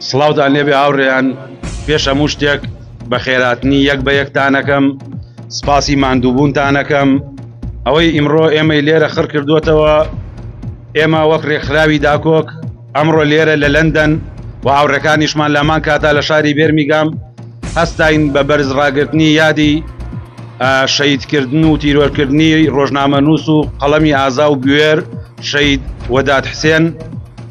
سڵاوتان لێبێ هاوڕێیان پێش هەموو شتێک بە خێراتنی یەک بە یەکتانەکەم سپاسی ماندووبوونتانەکەم ئەوەی ئیمڕۆ ئێمەی لێرە خڕ کردووەتەوە ئێمە وەک ڕێکخراوی داکۆک ئەمڕۆ لێرە لە لەندەن و هاوڕەکانیشمان لامان کاتا لە شاری بێرمیگام هەستین بە بەرز ڕاگررتنی یادی شەیدکردن و تیرۆرکردنی ڕۆژنامە نووس و قەڵەمی ئازا و بوێر شەید وەدات حسێن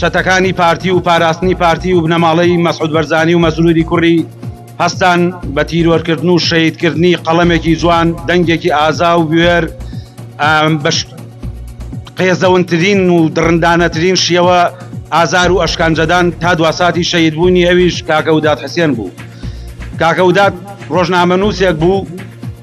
چەتەکانی پارتی و پاراستنی پارتی و بنەماڵەی مەسعود بەرزانی و مەسروری کوڕی هەستان بە تیرۆرکردن و شەیدکردنی قەڵەمێکی جوان دەنگێکی ئازا و بوێر بەش قێزەونترین و دڕندانەترین شیەوە ئازار و ئەشکانجەدان تا دواساتی شەید بوونی ئەویش کاکەودات حسێن بوو کاکەودات ڕۆژنامە نووسێک بوو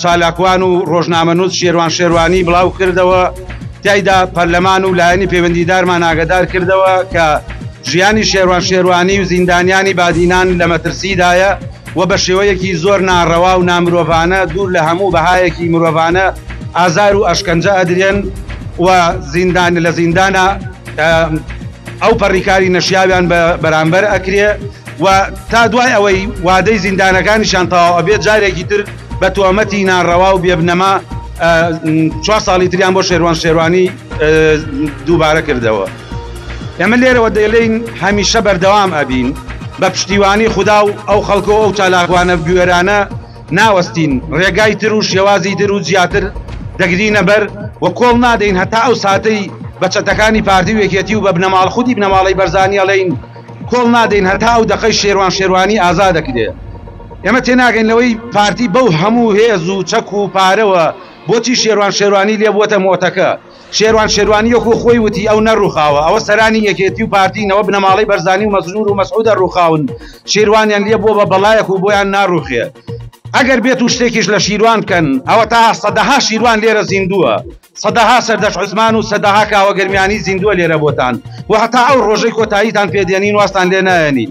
چالاکوان و ڕۆژنامەنووس شێروان شێروانی بڵاو کردەوە تایدا پەرلەمان و لایەنی پەیوەندیدارمان ئاگدار کردەوە کە ژیانی شێروان شێروانی و زیندانیانی بادینان لە مەترسیدایە و بە شێوەیەکی زۆر ناڕەوا و نامرۆڤانە دوور لە هەموو بەهایەکی مرۆڤانە ئازار و ئەشکەنجە ئەدرێن و زیندان لە زیندانە ئەو پەڕیکاری نەشیاویان بە بەرامبەر ئەکرێ و تا دوای ئەوەی وادەی زیندانەکانیشان تەواو ئەبێت جارێکی تر بە تۆمەتی ناڕەوا و بێبنەما چوار ساڵی تریان بۆ شێروان شێروانی دووبارە کردەوە ئێمە لێرەوە دەیڵین هەمیشە بەردەوام ئەبین بە پشتیوانی خوددا و ئەو خەڵکە ئەو چالاکوانە گوێرانە ناوەستین ڕێگای تر و شێوازی تر و زیاتر دەگرینە بەر و کۆڵ نادەین هەتا ئەو ساتەی بە چەتەکانی پارتی وێکێتی و بە بنەماڵ خودی بنەماڵی بەرزانیاڵین کۆڵ نادەین هەتا ئەو دەقەی شێروان شێروانی ئازا دەکرێ. ئێمە تێناگەین لەوەی پارتی بەو هەموو هێز و چەک و پارەوە بۆچی شێروان شێروانی لێ بووەتە مۆتەکە. شێروان شێروانی وەکوو خۆی وتی ئەو نەڕووخاوە، ئەوە سەرانی یەکێتی و پارتین، ئەوە بنەماڵەی بەرزانی و مەسرور و مەسعودە ڕووخاون، شیروانیان لێ بووە بە بەڵایەک و بۆیان ناڕووخێ. ئەگەر بێت و شتێکیش لە شیروان بکەن، ئەوەتا سەدەها شیروان لێرە زیندووە. سەدەها سەردەشت عوسمان و سەدەها کاوە گەرمیانی زیندووە لێرە بۆتان و هەتا ئەو ڕۆژەی کۆتاییتان پێ دێنین وازتان لێ نایەنین.